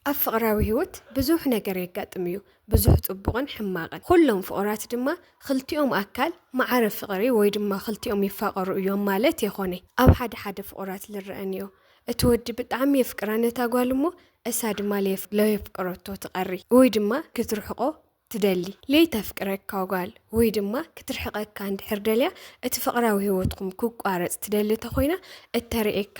ኣብ ፍቕራዊ ህይወት ብዙሕ ነገር የጋጥም እዩ፣ ብዙሕ ጽቡቕን ሕማቕን። ኹሎም ፍቑራት ድማ ኽልቲኦም ኣካል መዓረ ፍቕሪ ወይ ድማ ኽልቲኦም ይፋቐሩ እዮም ማለት የኾነይ። ኣብ ሓደ ሓደ ፍቑራት ልረኣ ንዮ። እቲ ወዲ ብጣዕሚ የፍቅራ ነታ ጓል እሞ እሳ ድማ ለየፍቅረቶ ትቐሪ ወይ ድማ ክትርሕቆ ትደሊ ለይተፍቅረካ ጓል ወይ ድማ ክትርሕቐካ እንድሕር ደልያ እቲ ፍቕራዊ ህይወትኩም ክቋረጽ ትደሊ ተኾይና እተርእየካ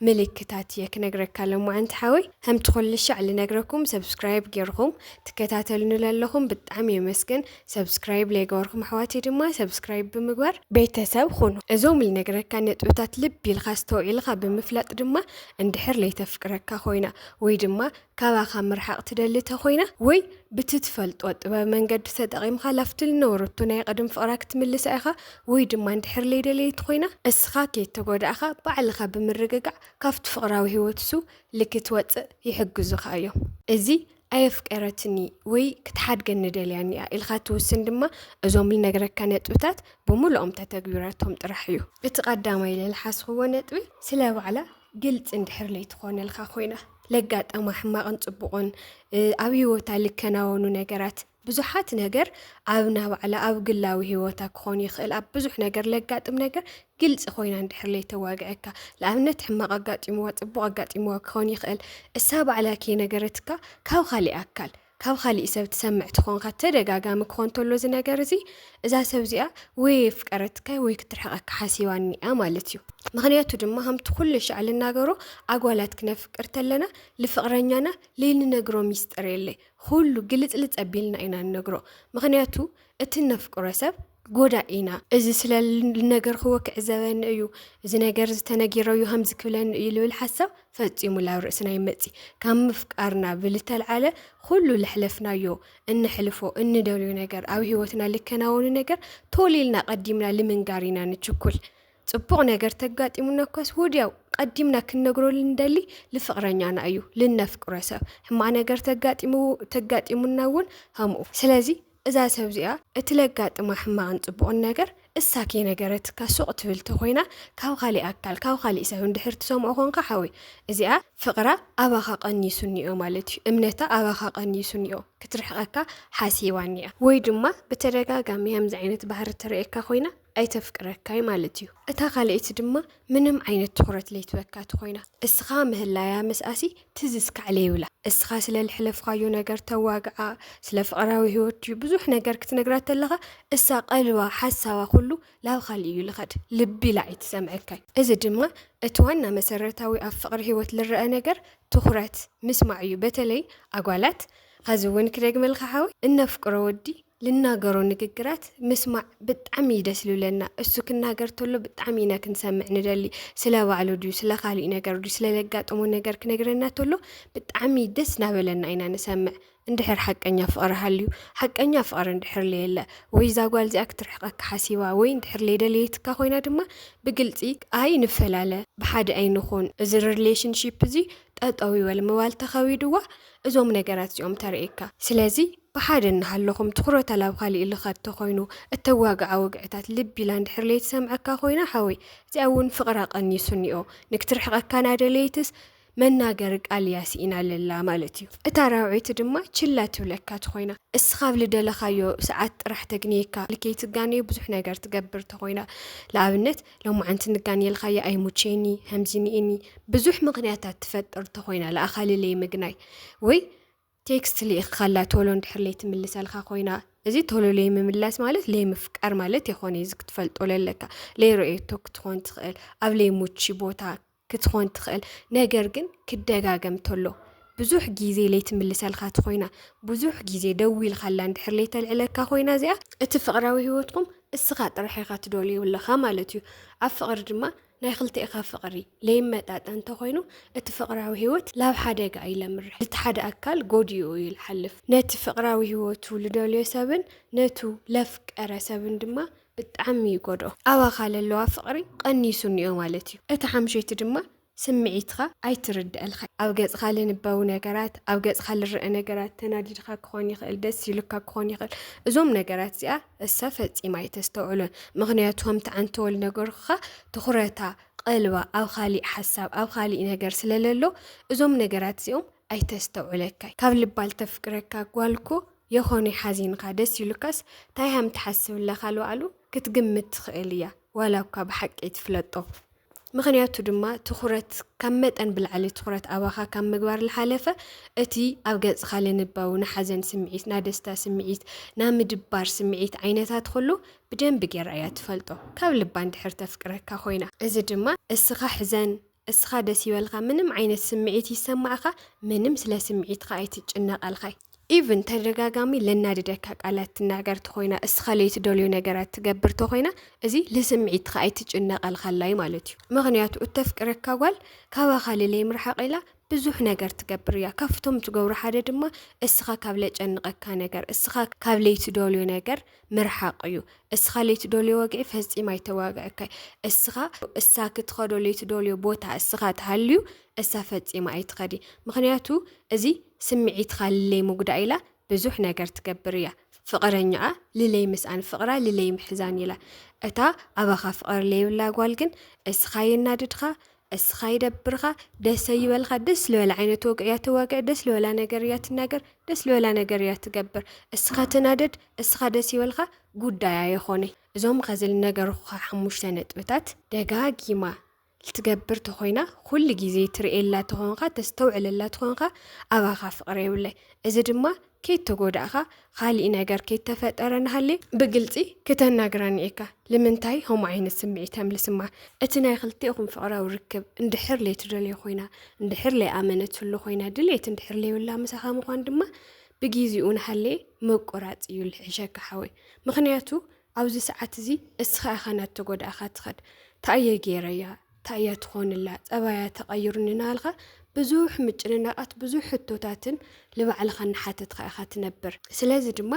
ምልክታት እየ ክነግረካ ለማዓንቲ ሓወይ ከምቲ ኩልሻዕ ልነግረኩም ሰብስክራይብ ጌርኹም ትከታተሉኒ ለለኹም ብጣዕሚ የመስግን ሰብስክራይብ ለይገበርኩም ኣሕዋተይ ድማ ሰብስክራይብ ብምግባር ቤተሰብ ኹኑ እዞም ልነግረካ ነጥብታት ልቢ ኢልካ ኣስተውዒልካ ብምፍላጥ ድማ እንድሕር ለይተፍቅረካ ኮይና ወይ ድማ ካባኻ ምርሓቕ ትደሊ ተኾይና ወይ ብቲ ትፈልጦ ጥበብ መንገዲ ተጠቒምካ ላፍቲ ልነበረቶ ናይ ቐደም ፍቕራ ክትምልሳ ኢኻ ወይ ድማ እንድሕር ለይደለየት ኾይና እስኻ ከይተጎዳእኻ ባዕልኻ ብምርግጋዕ ካብቲ ፍቕራዊ ህይወት እሱ ልክትወፅእ ይሕግዙኻ እዮም። እዚ ኣየፍቀረትኒ ወይ ክትሓድገኒ ደልያን እያ ኢልካ ትውስን ድማ እዞም ልነግረካ ነጥብታት ብምሉኦም ተተግቢረቶም ጥራሕ እዩ። እቲ ቐዳማይ ልልሓስኽዎ ነጥቢ ስለ ባዕላ ግልፂ እንድሕር ለይትኾነልካ ኮይና ለጋጠማ ሕማቕን ፅቡቕን ኣብ ህይወታ ልከናወኑ ነገራት ብዙሓት ነገር ኣብ ናባዕላ ኣብ ግላዊ ህይወታ ክኾን ይኽእል ኣብ ብዙሕ ነገር ለጋጥም ነገር ግልፂ ኮይና እንድሕር ለይተዋግዐካ ንኣብነት ሕማቕ ኣጋጢምዋ ፅቡቕ ኣጋጢምዋ ክኾን ይኽእል እሳ ባዕላ ከይነገረትካ ካብ ካሊእ ኣካል ካብ ኻሊእ ሰብ ትሰምዕ ተኾንካ ተደጋጋሚ ክኾን ተሎ እዚ ነገር እዚ እዛ ሰብ እዚኣ ወይ የፍቀረትካይ ወይ ክትርሕቀካ ሓሲባ እኒኣ ማለት እዩ። ምክንያቱ ድማ ከምቲ ኩሉ ሻዕ ልናገሮ ኣጓላት ክነፍቅር ተለና ልፍቅረኛና ልይንነግሮ ሚስጥር የለይ። ኩሉ ግልፅልፅ ኣቢልና ኢና ንነግሮ ምክንያቱ እቲ እነፍቅሮ ሰብ ጎዳኢ ኢና እዚ ስለ ልነገርክዎ ክዕዘበኒ እዩ እዚ ነገር ዝተነጊረዩ ከምዚ ክብለኒ እዩ ልብል ሓሳብ ፈፂሙ ላብ ርእስና ይመፂ ካብ ምፍቃርና ብልተልዓለ ኩሉ ለሕለፍናዮ እንሕልፎ እንደልዮ ነገር ኣብ ሂወትና ልከናወኑ ነገር ቶሊልና ቀዲምና ልምንጋር ኢና ንችኩል ፅቡቕ ነገር ተጋጢሙና እኳስ ወዲያው ቀዲምና ክንነግሮ ልንደሊ ልፍቕረኛና እዩ ልነፍቅሮ ሰብ ሕማቕ ነገር ተጋጢሙና እውን ከምኡ ስለዚ እዛ ሰብ እዚኣ እቲ ለጋጥማ ሕማቕን ጽቡቕን ነገር እሳ ከይነገረትካ ሱቕ ትብል ተኾይና ካብ ኻሊእ ኣካል ካብ ኻሊእ ሰብ እንድሕር ትሰምዖ ኮንካ ሓወይ እዚኣ ፍቕራ ኣባኻ ቀኒሱ እኒኦ ማለት እዩ እምነታ ኣባኻ ቀኒሱ እኒኦ ክትርሕቐካ ሓሲባ እኒኣ ወይ ድማ ብተደጋጋሚ ከምዚ ዓይነት ባህሪ ትርእየካ ኮይና ኣይተፍቅረካይ ማለት እዩ እታ ካልኤቲ ድማ ምንም ዓይነት ትኹረት ለይትበካ ትኾይና እስኻ ምህላያ ምስኣሲ ትዝ እስካዕ ለይብላ እስኻ ስለ ልሕለፍኻዮ ነገር ተዋግዓ ስለ ፍቅራዊ ህይወት ድዩ ብዙሕ ነገር ክትነግራ ተለኻ እሳ ቀልባ ሓሳባ ኩሉ ላብ ኻሊእ እዩ ልኸድ ልብ ኢላ ኣይትሰምዐካይ እዚ ድማ እቲ ዋና መሰረታዊ ኣብ ፍቅሪ ህይወት ልረኣ ነገር ትኹረት ምስማዕ እዩ በተለይ ኣጓላት ኸዚ እውን ክደግመልኻ ሓወይ እነፍቅሮ ወዲ ልናገሮ ንግግራት ምስማዕ ብጣዕሚ እዩ ደስ ልብለና። እሱ ክናገር ተሎ ብጣዕሚ ኢና ክንሰምዕ ንደሊ። ስለ ባዕሉ ድዩ ስለ ካሊእ ነገር ድዩ ስለ ለጋጠሞ ነገር ክነግረና ተሎ ብጣዕሚ ደስ ናበለና ኢና ንሰምዕ። እንድሕር ሓቀኛ ፍቕሪ ሃልዩ ሓቀኛ ፍቕሪ እንድሕር ለየለ ወይ እዛ ጓል እዚኣ ክትርሕቐካ ሓሲባ ወይ እንድሕር ለይደለየትካ ኮይና ድማ ብግልፂ ኣይ ንፈላለ ብሓደ ኣይንኹን እዚ ሪሌሽንሺፕ እዚ ጠጠው ይበል ምባል ተኸቢድዋ እዞም ነገራት እዚኦም ተርእየካ ስለዚ ብሓደ እናሃለኹም ትኹረታ ላብ ኻሊእ ልኻድ ተኾይኑ እተዋግዓ ወግዕታት ልብ ኢላ እንድሕር ለይትሰምዐካ ኮይና ሓወይ እዚኣ እውን ፍቕራ ቀኒሱኒኦ ንክትርሕቐካ ናደለየትስ መናገሪ ቃል እያ ሲኢና ለላ ማለት እዩ እታ ራውዒት ድማ ችላ ትብለካ ትኾይና እስኻ ኣብ ልደለኻዮ ሰዓት ጥራሕ ተግንየካ ልከይትጋነዮ ብዙሕ ነገር ትገብር ተኾይና ልኣብነት ሎማዓንቲ ንጋንየልኻያ ኣይሙቼኒ ሀምዚኒኢኒ ብዙሕ ምኽንያታት ትፈጥር ተኾይና ልኣኻ ልለይምግናይ ወይ ቴክስት ሊኢክካላ ቶሎ እንድሕር ለይትምልሰልካ ኮይና እዚ ቶሎ ለይምምላስ ማለት ለይምፍቃር ማለት የኾነ እዚ ክትፈልጦ ለለካ ለይረእየቶ ክትኾን ትኽእል ኣብ ለይሙቺ ቦታ ክትኾን ትኽእል ነገር ግን ክደጋገም ተሎ ብዙሕ ግዜ ለይትምልሰልካ ትኾይና ብዙሕ ግዜ ደው ኢልካላ እንድሕር ለይተልዕለካ ኮይና እዚኣ እቲ ፍቕራዊ ሂወትኩም እስኻ ጥራሕ ኢኻ ትደልዩ ኣለኻ ማለት እዩ ኣብ ፍቕሪ ድማ ናይ ክልቴእካ ፍቅሪ ለይመጣጠን እንተኮይኑ እቲ ፍቅራዊ ሂወት ላብ ሓደጋ እዩ ለምርሕ ልቲ ሓደ ኣካል ጎዲኡ እዩ ልሓልፍ ነቲ ፍቅራዊ ሂወቱ ልደልዮ ሰብን ነቱ ለፍቀረ ሰብን ድማ ብጣዕሚ ይጎድኦ ኣባካ ለለዋ ፍቅሪ ቀኒሱ እኒኦ ማለት እዩ እቲ ሓምሸይቲ ድማ ስምዒትካ ኣይትርደእልካ ኣብ ገጽካ ልንበቡ ነገራት ኣብ ገጽካ ልረእ ነገራት ተናዲድካ ክኮን ይክእል ደስ ኢሉካ ክኮን ይክእል እዞም ነገራት እዚኣ እሳ ፈጺማ ኣይተስተውዕሎን ምኽንያቱ ከምቲ ዓንተወል ነገርኩኻ ትኹረታ ቐልባ ኣብ ኻሊእ ሓሳብ ኣብ ኻሊእ ነገር ስለለሎ እዞም ነገራት እዚኦም ኣይተስተውዕለካይ ካብ ልባ ልተፍቅረካ ጓልኮ የኾነይ ሓዚንኻ ደስ ኢሉካስ ታይ ሃም ትሓስብ ለኻልባዕሉ ክትግምት ትኽእል እያ ዋላ እኳ ብሓቂ ኣይትፍለጦ ምኽንያቱ ድማ ትኹረት ካብ መጠን ብላዕሊ ትኹረት ኣባኻ ካብ ምግባር ልሓለፈ እቲ ኣብ ገጽኻ ልንበው ናሓዘን ስምዒት፣ ናደስታ ስምዒት፣ ናምድባር ስምዒት ዓይነታት ኹሉ ብደንቢ ጌራ እያ ትፈልጦ ካብ ልባ እንድሕር ተፍቅረካ ኮይና። እዚ ድማ እስኻ ሕዘን እስኻ ደስ ይበልካ ምንም ዓይነት ስምዒት ይሰማዕኻ ምንም ስለ ስምዒትኻ ኣይትጭነቅ ኣልኻይ። ኢቭን ተደጋጋሚ ለናድደካ ቃላት ትናገር ተኾይና እስኻ ለይትደልዮ ነገራት ትገብር ተኾይና እዚ ልስምዒትካ ኣይትጭነቐልካላይ ማለት እዩ ምክንያቱ እተፍቅረካ ጓል ካባኻ ልለይ ምርሓቕ ኢላ ብዙሕ ነገር ትገብር እያ ካብቶም ትገብሩ ሓደ ድማ እስኻ ካብ ለጨንቐካ ነገር እስኻ ካብ ለይትደልዮ ነገር ምርሓቕ እዩ እስኻ ለይትደልዮ ወግዒ ፈፂም ኣይተዋግዐካይ እስኻ እሳ ክትኸዶ ለይትደልዮ ቦታ እስኻ ትሃልዩ እሳ ፈፂማ ኣይትኸዲ ምክንያቱ እዚ ስምዒትካ ልለይ ምጉዳእ ኢላ ብዙሕ ነገር ትገብር እያ ፍቕረኛኣ ልለይ ምስኣን ፍቕራ ልለይ ምሕዛን ኢላ እታ ኣባኻ ፍቕሪ ለይብላ ጓል ግን እስኻ የናድድካ እስኻ ይደብርኻ ደሰ ይበልካ ደስ ልበላ ዓይነት ወግዕ እያ ተዋግዕ ደስ ልበላ ነገር እያ ትናገር ደስ ልበላ ነገር እያ ትገብር እስኻ ተናደድ እስኻ ደስ ይበልካ ጉዳያ የኾነ እዞም ከዚ ልነገርኩኻ ሓሙሽተ ነጥብታት ደጋጊማ ትገብር ተኾይና ኩሉ ግዜ ትርእየላ ተኾንካ ተስተውዕለላ ተኾንካ ኣባኻ ፍቕሪ የብለይ እዚ ድማ ከይተጎዳእኻ ኻሊእ ነገር ከይተፈጠረ ናሃሌ ብግልፂ ክተናግረኒ እካ ልምንታይ ኸምኡ ዓይነት ስምዒት ኣምልስማ እቲ ናይ ኽልቴኹም ፍቕራዊ ርክብ እንድሕር ለይትደልዮ ኾይና እንድሕር ለይኣመነትሉ ኾይና ድሌት እንድሕር ለይብላ ምሳኻ ምዃን ድማ ብጊዚኡ ናሃሌ ምቁራፅ እዩ ልሕሸካ ሓወይ ምኽንያቱ ኣብዚ ሰዓት እዚ እስኻ ኢኻ ናተጎዳእኻ ትኸድ ታእየ ገይረያ ታእያ ትኾንላ ጸባያ ተቐይሩ ንናልኻ ብዙሕ ምጭንናቓት ብዙሕ ሕቶታትን ልባዕልኻ እናሓተትካ ኢኻ ትነብር ስለዚ ድማ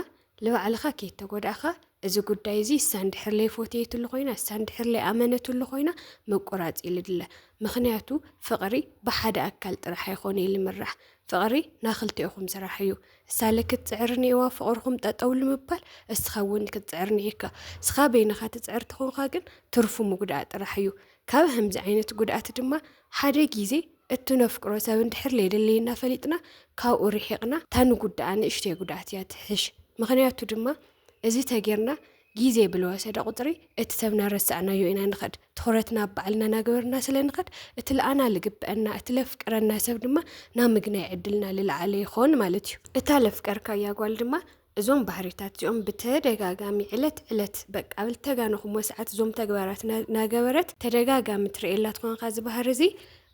ልባዕልኻ ከይተጎዳእኻ እዚ ጉዳይ እዚ እሳ እንድሕር ለይ ፎትየትሉ ኮይና እሳ እንድሕር ለይ ኣመነትሉ ኮይና ምቁራፅ ይልድለ ምክንያቱ ፍቅሪ ብሓደ ኣካል ጥራሕ ኣይኮነ ይልምራሕ ፍቅሪ ናክልቲኦኹም ስራሕ እዩ እሳ ለ ክትፅዕር እኒኤዋ ፍቅርኩም ጠጠው ልምባል እስካ እውን ክትፅዕር እኒኤካ እስካ በይንካ ትፅዕር ተኮንካ ግን ትርፉ ምጉዳእ ጥራሕ እዩ ካብ ከምዚ ዓይነት ጉድኣት ድማ ሓደ ጊዜ እትነፍቅሮ ሰብ እንድሕር ለየድለየና ፈሊጥና ካብኡ ርሒቅና እታ ንጉዳኣ ንእሽተይ ጉድኣት እያ ትሕሽ ምክንያቱ ድማ እዚ ተጌርና ጊዜ ብልወሰደ ቁጽሪ እቲ ሰብ ናረሳዕናዮ ኢና ንኸድ። ትኹረትና ኣብ ባዕልና ናገበርና ስለ ንኸድ እቲ ልኣና ልግበእና እቲ ለፍቅረና ሰብ ድማ ናብ ምግናይ ዕድልና ልልዓለ ይኾን ማለት እዩ። እታ ለፍቀርካያ ጓል ድማ እዞም ባህሪታት እዚኦም ብተደጋጋሚ ዕለት ዕለት በቃ ኣብ ልተጋነኹሞ ሰዓት እዞም ተግባራት ናገበረት ተደጋጋሚ ትርእየላ ትኾንካ እዚ ባህሪ እዚ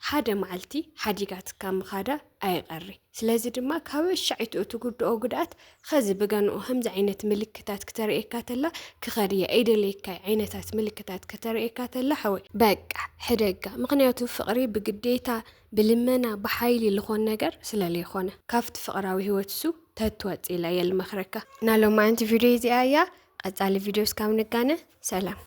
ሓደ መዓልቲ ሓዲጋትካ ምኻዳ ኣይቐሪ ስለዚ ድማ ካብ ኣሻዒቱ እቲ ጉድኦ ጉድኣት ኸዚ ብገንኡ ከምዚ ዓይነት ምልክታት ክተርእየካ ተላ ክኸድ እየ ኣይደለየካይ ዓይነታት ምልክታት ከተርእየካ ተላ ሓወይ በቃ ሕደጋ ምክንያቱ ፍቕሪ ብግዴታ ብልመና ብሓይሊ ልኾን ነገር ስለለይኾነ ካብቲ ፍቕራዊ ህይወት እሱ ተትወፅእ ኢለ እየ ልመኽረካ። ናሎማዓንቲ ቪድዮ እዚኣ እያ። ቐፃሊ ቪድዮ እስካብ ንጋነ ሰላም።